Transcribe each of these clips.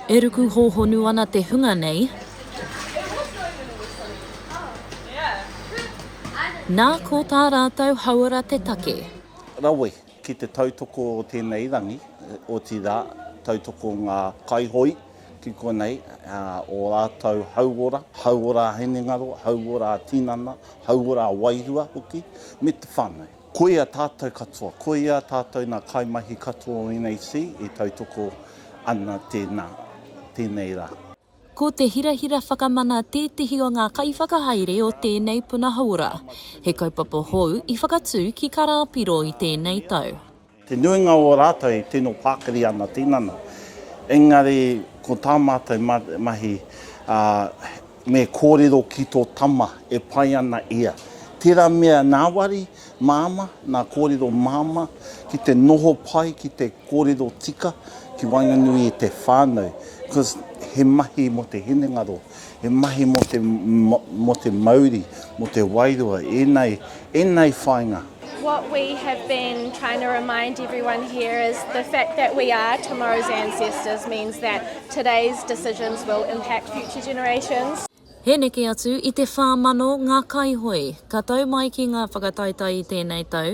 E ruku hōhonu ana te hunga nei. Nā, ko tā rātou hauora te take. Rawe ki te tautoko o tēnei rangi, otirā, tautoko ngā kaihoi ki konei, ō rātou hauora, hauora hinengaro, hauora tinana, hauora wairua hoki, me te whānau. Koia tātou katoa, koia tātou nā kaimahi katoa o NAC e tautoko ana tēnā, tēnei rā. Ko te hirahira whakamana tētehi o ngā kaiwhakahaere o tēnei puna hauora. He kaupapa hou i whakatū ki Karāpiro i tēnei tau. Te nuinga o ō rātou i tino pakari āna tinana, engari ko tā mātou mahi, me kōrero ki tō tama e pai ana ia. Tērā mea ngāwari māmā, ngā kōrero māmā, ki te noho pai, ki te kōrero tika ki waenganui i te whānau, cos he mahi mō te hinengaro. He mahi mō te, mō te mauri, mō te wairua, ēnei, ēnei whāinga. What we have been trying to remind everyone here is the fact that we are tomorrow's ancestors means that today's decisions will impact future generations. He neke atu i te whā mano ngā kaihoe. Ka tau mai ki ngā whakataetae i tēnei tau,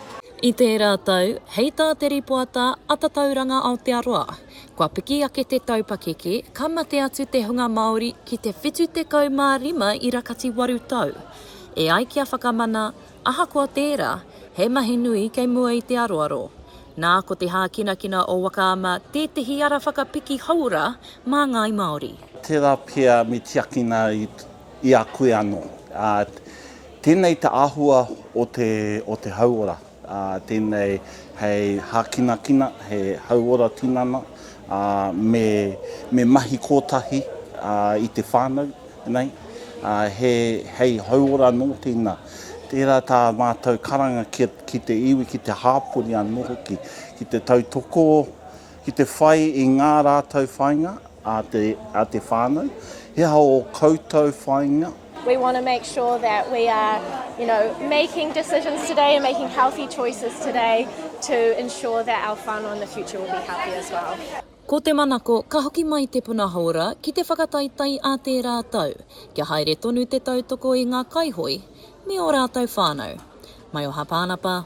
I tērā tau, hei tā te rīpoata a Tatauranga Aotearoa, kua piki ake te tau pakeke, ka mate atu te hunga Māori ki te 75 ira kati waru tau. E ai ki a Whakamana, ahakoa tērā, he mahi nui kei mua i te aroaro. Nā, ko te hākinakina o Waka Ama tētehi ara whakapiki hauora mā ngāi Māori. Tērā pea me tiakina i. I a koe anō. Tēnei te āhua o te hauora. Tēnei hei hākinakina, he hauora tinana, me mahi kōtahi i te whānau nei. Hei hauora nō tēnā. Tērā tā mātou karanga ki te iwi, ki te hāpori anō hoki, ki te tautoko, Ki te whai i ngā rātou whāinga a te, a te whānau, he aha ō koutou whāinga? We want to make sure that we are, you know, making decisions today and making healthy choices today to ensure that our whānau in the future will be healthy as well. Ko te manako, ka hoki mai te puna hōra ki te whakataetae a tērā tau, kia haere tonu te tautoko i ngā kaihoe me ō rātou whānau. Mai o Hapānapa,